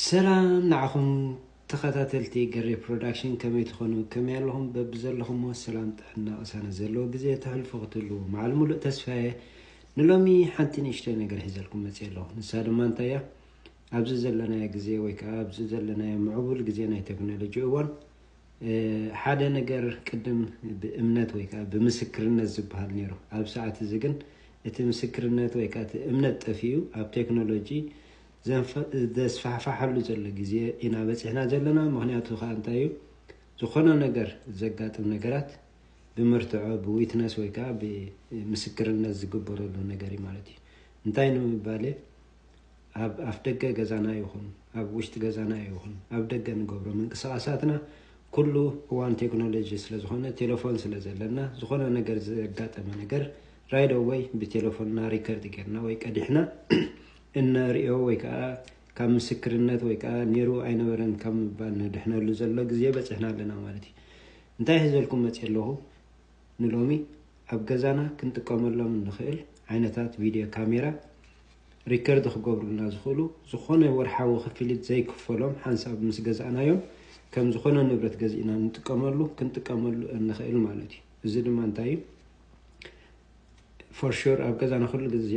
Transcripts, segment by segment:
ሰላም ንዓኹም ተኸታተልቲ ገሬ ፕሮዳክሽን ከመይ ትኾኑ ከመይ ኣለኹም በብዘለኹምዎ ሰላም ጥዕና ቅሳነት ዘለዎ ግዜ ተሕልፉ ክትህልዉ መዓል ሙሉእ ተስፋየ ንሎሚ ሓንቲ ንእሽተይ ነገር ሒዘልኩም መፅእ ኣለኹ ንሳ ድማ እንታይ እያ ኣብዚ ዘለናዮ ግዜ ወይ ከዓ ኣብዚ ዘለናዮ ምዕቡል ግዜ ናይ ቴክኖሎጂ እዋን ሓደ ነገር ቅድም ብእምነት ወይ ከዓ ብምስክርነት ዝበሃል ነይሩ ኣብ ሰዓት እዚ ግን እቲ ምስክርነት ወይ ከኣ እቲ እምነት ጠፊኡ ኣብ ቴክኖሎጂ ዘስፋሕፋሓሉ ዘሎ ግዜ ኢና በጺሕና ዘለና ምኽንያቱ ከኣ እንታይ እዩ ዝኾነ ነገር ዘጋጥም ነገራት ብመርትዖ ብዊትነስ ወይ ከኣ ብምስክርነት ዝግበረሉ ነገር እዩ ማለት እዩ እንታይ ንምባል እየ ኣብ ኣፍ ደገ ገዛና ይኹን ኣብ ውሽጢ ገዛና ይኹን ኣብ ደገ ንገብሮ ምንቅስቓሳትና ኩሉ እዋን ቴክኖሎጂ ስለዝኾነ ቴሌፎን ስለ ዘለና ዝኾነ ነገር ዘጋጠመ ነገር ራይዶ ወይ ብቴሌፎንና ሪከርድ ጌርና ወይ ቀዲሕና እነርእዮ ወይ ከዓ ካብ ምስክርነት ወይ ከዓ ነይሩ ኣይነበረን ካብ ምባል ንድሕነሉ ዘሎ ግዜ በፂሕና ኣለና ማለት እዩ እንታይ ሒዘልኩም መፅ ኣለኹ ንሎሚ ኣብ ገዛና ክንጥቀመሎም እንኽእል ዓይነታት ቪድዮ ካሜራ ሪከርድ ክገብሩልና ዝኽእሉ ዝኾነ ወርሓዊ ክፍሊት ዘይክፈሎም ሓንሳብ ምስ ገዛእናዮም ከም ዝኾነ ንብረት ገዚእና ንጥቀመሉ ክንጥቀመሉ እንኽእል ማለት እዩ እዚ ድማ እንታይ እዩ ፎርሹር ኣብ ገዛና ኩሉ ግዜ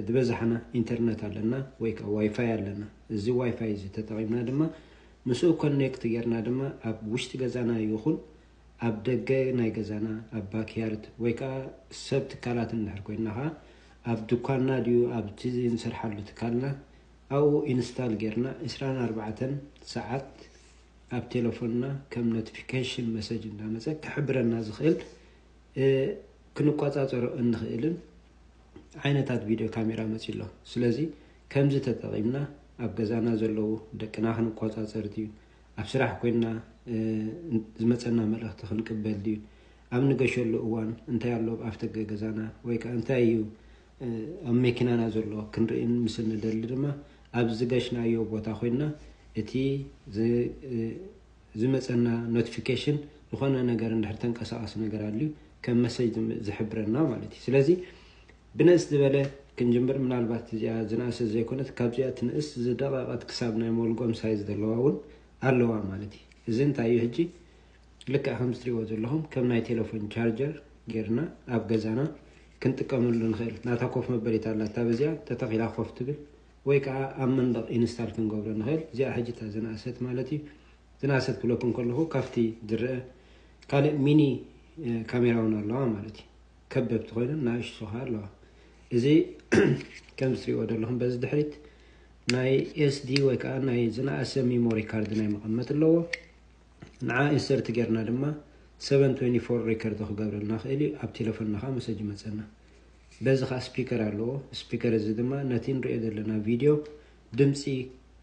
ዝበዛሕና ኢንተርነት ኣለና ወይ ከዓ ዋይፋይ ኣለና እዚ ዋይፋይ እዚ ተጠቒምና ድማ ምስኡ ኮኔክት ጌርና ድማ ኣብ ውሽጢ ገዛና ይኹን ኣብ ደገ ናይ ገዛና ኣብ ባክያርድ ወይ ከኣ ሰብ ትካላት እንድሕር ኮይንና ከኣ ኣብ ድኳንና ድዩ ኣብቲ እንሰርሓሉ ትካልና ኣብኡ ኢንስታል ጌርና ዕስራን ኣርባዕተን ሰዓት ኣብ ቴለፎንና ከም ኖቲፊኬሽን መሰጅ እንዳመጸ ክሕብረና ዝኽእል ክንቆጻጸሮ እንኽእልን ዓይነታት ቪድዮ ካሜራ መጺኡ ኣሎ ስለዚ ከምዚ ተጠቒምና ኣብ ገዛና ዘለዉ ደቅና ክንቆጻጸር ድዩ ኣብ ስራሕ ኮይንና ዝመጸና መልእኽቲ ክንቅበል ድዩ? ኣብ ንገሸሉ እዋን እንታይ ኣሎ ኣብ ኣፍደገ ገዛና ወይ ከኣ እንታይ እዩ ኣብ መኪናና ዘሎ ክንርእን ምስ እንደሊ ድማ ኣብ ዝገሽናዮ ቦታ ኮይንና እቲ ዝመጸና ኖቲፊኬሽን ዝኾነ ነገር እንድሕር ተንቀሳቓሲ ነገር ኣልዩ ከም መሰጅ ዝሕብረና ማለት እዩ። ስለዚ ብንእስ ዝበለ ክንጅምር ምናልባት እዚኣ ዝነኣሰት ዘይኮነት ካብዚኣ ትንእስ ዝደቐቐት ክሳብ ናይ ሞልጎም ሳይዝ ዘለዋ ውን ኣለዋ ማለት እዩ እዚ እንታይ እዩ ሕጂ ልክዕ ከምዚ ትሪእዎ ዘለኹም ከም ናይ ቴሌፎን ቻርጀር ጌርና ኣብ ገዛና ክንጥቀመሉ ንኽእል ናታ ኮፍ መበሊት ኣላታ በዚኣ ተተኺላ ኮፍ ትብል ወይ ከዓ ኣብ መንደቕ ኢንስታል ክንገብሮ ንኽእል እዚኣ ሕጂ እታ ዝነኣሰት ማለት እዩ ዝነኣሰት ክብለኩም ከለኹ ካብቲ ዝረአ ካልእ ሚኒ ካሜራ ውን ኣለዋ ማለት እዩ ከበብቲ ኮይነን ናእሽቱ ከኣ ኣለዋ እዚ ከም ዝትሪእዎ ዘለኹም በዚ ድሕሪት ናይ ኤስዲ ወይ ከዓ ናይ ዝነኣሰ ሚሞሪ ካርድ ናይ መቐመጥ ኣለዎ ንዓ ኢንሰርት ጌርና ድማ 724 ሪከርድ ክገብረልና ክእል እዩ ኣብ ቴሌፎንና ከዓ መሰጅ ይመፀና በዚ ከዓ ስፒከር ኣለዎ ስፒከር እዚ ድማ ነቲ ንሪኦ ዘለና ቪድዮ ድምፂ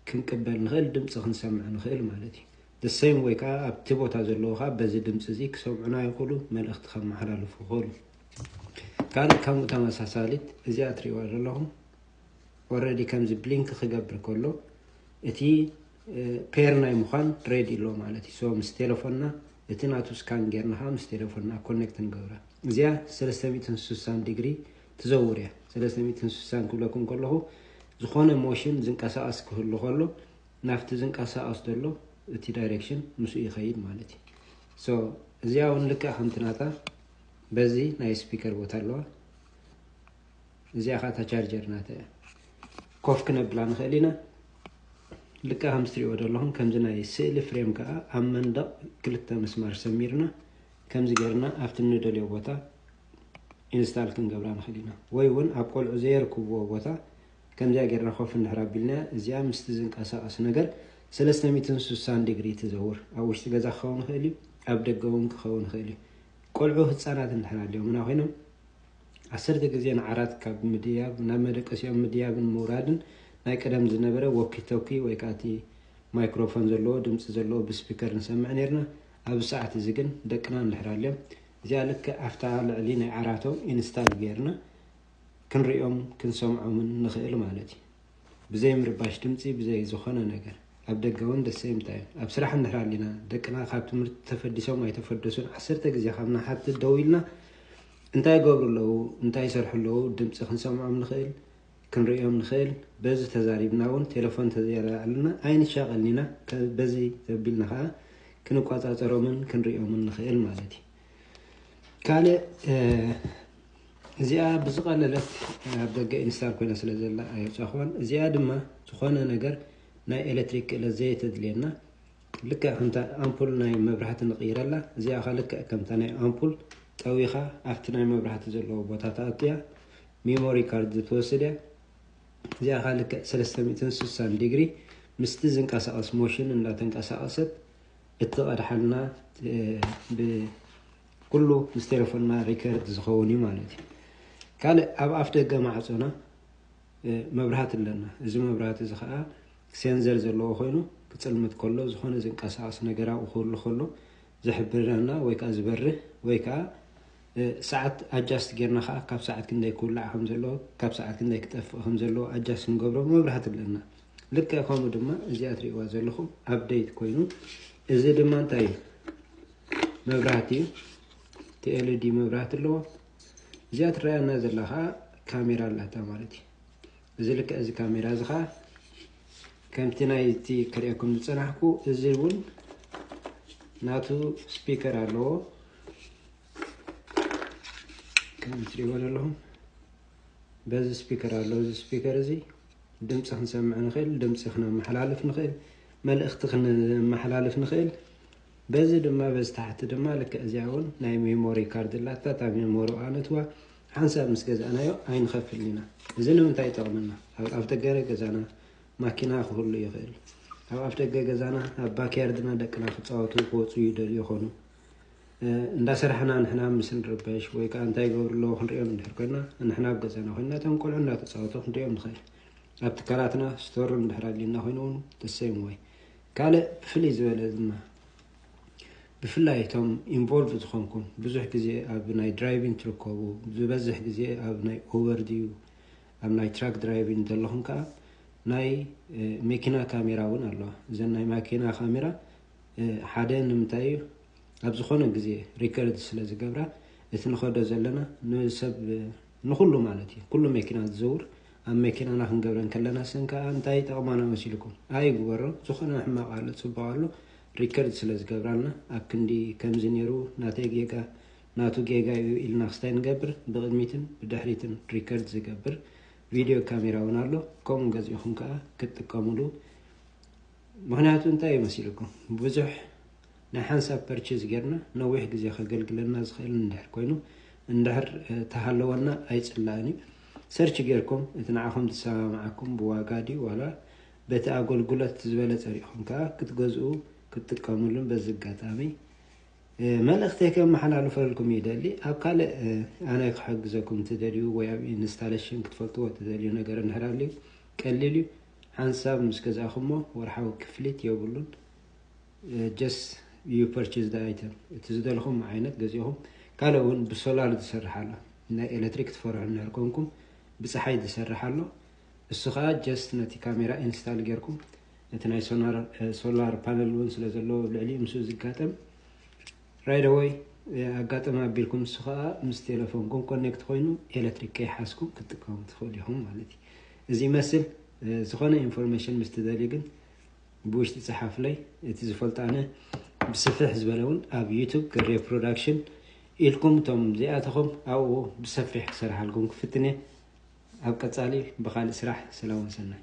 ክንቅበል ንኽእል ድምፂ ክንሰምዕ ንኽእል ማለት እዩ the same way ከኣ ኣብቲ ቦታ ዘለዉ ከኣ በዚ ድምጺ እዚ ክሰምዑና ይኽእሉ መልእኽቲ ከመሓላልፉ ይኽእሉ። ካልእ ከምኡ ተመሳሳሊት እዚኣ ትርእይዋ ዘለኹም ኦልሬዲ ከምዚ ብሊንክ ክገብር ከሎ እቲ ፔር ናይ ምዃን ሬዲ ኣሎ ማለት እዩ። ሶ ምስ ቴሌፎንና እቲ ናቱ ስካን ጌርና ከዓ ምስ ቴሌፎንና ኮኔክት ንገብራ። እዚኣ 360 ዲግሪ ትዘውር እያ። 360 ክብለኩም ከለኹ ዝኾነ ሞሽን ዝንቀሳቐስ ክህሉ ከሎ ናብቲ ዝንቀሳቀስ ዘሎ እቲ ዳይሬክሽን ምስኡ ይኸይድ ማለት እዩ። ሶ እዚኣ እውን ልክዕ ከምቲ ናታ በዚ ናይ ስፒከር ቦታ ኣለዋ። እዚኣ ከዓ እታ ቻርጀር ናታ እያ። ኮፍ ክነብላ ንኽእል ኢና። ልክዕ ከምዚ ትሪእዎ ዘለኹም ከምዚ ናይ ስእሊ ፍሬም ከዓ ኣብ መንደቕ ክልተ ምስማር ሰሚርና ከምዚ ጌርና ኣብቲ ንደልዮ ቦታ ኢንስታል ክንገብራ ንኽእል ኢና። ወይ እውን ኣብ ቆልዑ ዘየርክብዎ ቦታ ከምዚኣ ጌርና ኮፍ እንድሕር ኣቢልና፣ እዚኣ ምስቲ ዝንቀሳቐስ ነገር ሰለስተ ሚእትን ሱሳን ዲግሪ ትዘውር። ኣብ ውሽጢ ገዛ ክኸውን ይኽእል እዩ፣ ኣብ ደገ እውን ክኸውን ይኽእል እዩ። ቆልዑ ህጻናት እንድሕር ኣልዮምና ኮይኖም ዓሰርተ ግዜ ንዓራት ካብ ምድያብ ናብ መደቀሲኦም ምድያብን ምውራድን ናይ ቀደም ዝነበረ ወኪቶኪ ወይ ከኣ እቲ ማይክሮፎን ዘለዎ ድምጺ ዘለዎ ብስፒከር ንሰምዕ ኔርና። ኣብዚ ሰዓት እዚ ግን ደቅና እንድሕር ኣልዮም እዚኣ ልክዕ ኣብታ ልዕሊ ናይ ዓራቶም ኢንስታል ጌርና ክንሪኦም ክንሰምዖምን ንኽእል ማለት እዩ። ብዘይ ምርባሽ ድምፂ ብዘይ ዝኾነ ነገር ኣብ ደገ እውን ደሰይምታ እዩ። ኣብ ስራሕ እንድሕር ኣሊና ደቅና ካብ ትምህርቲ ተፈዲሶም ኣይተፈደሱን ዓሰርተ ግዜ ካብ ንሓትት ደው ኢልና እንታይ ይገብሩ ኣለዉ እንታይ ይሰርሑ ኣለዉ ድምፂ ክንሰምዖም ንኽእል ክንሪኦም ንኽእል በዚ ተዛሪብና እውን ቴሌፎን ተዘይኣልና ኣይንሻቐልን ኢና በዚ ዘቢልና ከዓ ክንቆፃፀሮምን ክንሪኦምን ንኽእል ማለት እዩ ካልእ እዚኣ ብዝቐለለት ኣብ ደገ ኢንስታል ኮይና ስለ ዘላ ኣየውጻእክዋን። እዚኣ ድማ ዝኾነ ነገር ናይ ኤለትሪክ ክእለት ዘየተድልየና ልክዕ ከምታ ኣምፑል ናይ መብራህቲ ንቕይረላ እዚኣ ከ ልክዕ ከምታ ናይ ኣምፑል ጠዊኻ ኣብቲ ናይ መብራህቲ ዘለዎ ቦታ ትኣቱ እያ። ሚሞሪ ካርድ ትወስድ እያ። እዚኣ ከ ልክዕ ሰለስተ ሚእትን ስሳን ዲግሪ ምስቲ ዝንቀሳቐስ ሞሽን እንዳተንቀሳቐሰት እትቐድሓልና ብ ኩሉ ምስ ቴለፎንና ሪከርድ ዝኸውን እዩ ማለት እዩ። ካልእ ኣብ ኣፍ ደገ ማዕጾና መብራህቲ ኣለና። እዚ መብራህቲ እዚ ከኣ ሴንዘር ዘለዎ ኮይኑ ክጽልምት ከሎ ዝኾነ ዝንቀሳቐስ ነገር ኣብኡ ክህሉ ከሎ ዝሕብረና ወይ ከዓ ዝበርህ ወይ ከዓ ሰዓት ኣጃስት ጌርና ከዓ ካብ ሰዓት ክንደይ ክውላዕ ከም ዘለዎ ካብ ሰዓት ክንደይ ክጠፍእ ከም ዘለዎ ኣጃስት ንገብሮ መብራህቲ ኣለና ልክዕ ከምኡ ድማ እዚኣ ትሪእዋ ዘለኹም ኣብደይት ኮይኑ እዚ ድማ እንታይ እዩ መብራህቲ እቲ ኤልዲ መብራህቲ ኣለዎ እዚኣ ትረኣየና ዘላ ከዓ ካሜራ ኣላታ ማለት እዩ እዚ ልክዕ እዚ ካሜራ እዚ ከዓ ከምቲ ናይቲ ክርእየኩም ዝፀናሕኩ እዚ እውን ናቱ ስፒከር ኣለዎ ከም ትሪእዎ ዘለኹም በዚ ስፒከር ኣለዎ እዚ ስፒከር እዚ ድምፂ ክንሰምዕ ንኽእል ድምፂ ክነመሓላልፍ ንኽእል መልእኽቲ ክነመሓላልፍ ንኽእል በዚ ድማ በዚ ታሕቲ ድማ ልክዕ እዚኣ እውን ናይ ሜሞሪ ካርድ ኣላታ እታ ሜሞሪ ኣነትዋ ሓንሳብ ምስ ገዛእናዮ ኣይንኸፍልን ኢና እዚ ንምንታይ ይጠቕመና ኣብ ኣፍደገረ ገዛና ማኪና ክህሉ ይኽእል ኣብ ኣፍደገ ገዛና ኣብ ባክያርድና ደቅና ክፃወቱ ክወፁ ይደልዩ ይኾኑ እንዳ ሰራሕና ንሕና ምስ ንርበሽ ወይ ከዓ እንታይ ይገብሩ ኣለዎ ክንሪኦም እንድሕር ኮይና ንሕና ኣብ ገዛና ኮይና እቶም ቆልዑ እንዳተፃወቱ ክንሪኦም ንኽእል ኣብ ትካላትና ስቶር እንድሕር ኣሊና ኮይኑ እውን ተሰይም ወይ ካልእ ፍልይ ዝበለ ድማ ብፍላይ እቶም ኢንቮልቭ ዝኾንኩም ብዙሕ ግዜ ኣብ ናይ ድራይቪን ትርከቡ ዝበዝሕ ግዜ ኣብ ናይ ኡበር ድዩ ኣብ ናይ ትራክ ድራይቪን ዘለኹም ከዓ ናይ መኪና ካሜራ እውን ኣለዋ እዘን ናይ ማኪና ካሜራ ሓደ ንምንታይ እዩ ኣብ ዝኾነ ግዜ ሪከርድ ስለ ዝገብራ እቲ ንኸዶ ዘለና ንሰብ ንኹሉ ማለት እዩ ኩሉ መኪና ዝዘውር ኣብ መኪናና ክንገብረን ከለና ሰን ከኣ እንታይ ይጠቕማና መሲልኩም ኣይግበሮ ዝኾነ ሕማቕ ኣሎ ጽቡቕ ኣሎ ሪከርድ ስለ ዝገብራልና ኣብ ክንዲ ከምዚ ኔሩ ናተይ ጌጋ ናቱ ጌጋ እዩ ኢልና ክስታይ ንገብር ብቕድሚትን ብድሕሪትን ሪከርድ ዝገብር ቪድዮ ካሜራ እውን ኣሎ ከምኡ ገዚእኹም ከኣ ክትጥቀምሉ ምክንያቱ እንታይ እዩ መሲልኩም ብዙሕ ናይ ሓንሳብ ፐርቼዝ ጌርና ነዊሕ ግዜ ከገልግለና ዝኽእል እንድሕር ኮይኑ እንድሕር ተሃለወና ኣይጽላእን እዩ ሰርች ጌርኩም እቲ ንዓኹም ዝሰማምዓኩም ብዋጋ ድዩ ዋላ በቲ ኣጎልጉለት ዝበለጸ ሪኢኹም ከኣ ክትገዝኡ ክትጥቀምሉን በዚ ኣጋጣሚ መልእኽተይ ከመሓላልፈልኩም ይደሊ ኣብ ካልእ ኣነ ክሕግዘኩም ትደልዩ ወይ ኣብ ኢንስታሌሽን ክትፈልጥዎ ትደልዩ ነገር እንድሕር ኣልዩ ቀሊል እዩ ሓንሳብ ምስ ገዛእኹሞ ወርሓዊ ክፍሊት የብሉን ጀስት ዩ ፐርችዝ ዘ ኣይተም እቲ ዝደለኹም ዓይነት ገዚእኹም ካልእ እውን ብሶላር ዝሰርሕ ኣሎ ናይ ኤሌክትሪክ ትፈርሑ እንድሕር ኮንኩም ብፀሓይ ዝሰርሕ ኣሎ እሱ ከዓ ጀስት ነቲ ካሜራ ኢንስታል ጌርኩም እቲ ናይ ሶላር ፓነል እውን ስለ ዘለዎ ኣብ ልዕሊ ምስ ዝጋጠም ራይደወይ ኣጋጠመ ኣቢልኩም እሱ ከዓ ምስ ቴሌፎንኩም ኮኔክት ኮይኑ ኤሌክትሪክ ከይሓስኩም ክትጥቀሙ ትኽእሉ ኢኹም ማለት እዩ እዚ ይመስል ዝኾነ ኢንፎርሜሽን ምስ ትደልዩ ግን ብውሽጢ ጸሓፉለይ እቲ ዝፈልጦ ኣነ ብስፍሕ ዝበለ እውን ኣብ ዩቱብ ገሬ ፕሮዳክሽን ኢልኩም እቶም ዘይኣተኹም ኣብኡ ብሰፊሕ ክሰርሓልኩም ክፍትን እየ ኣብ ቀጻሊ ብካልእ ስራሕ ሰላም ወሰናይ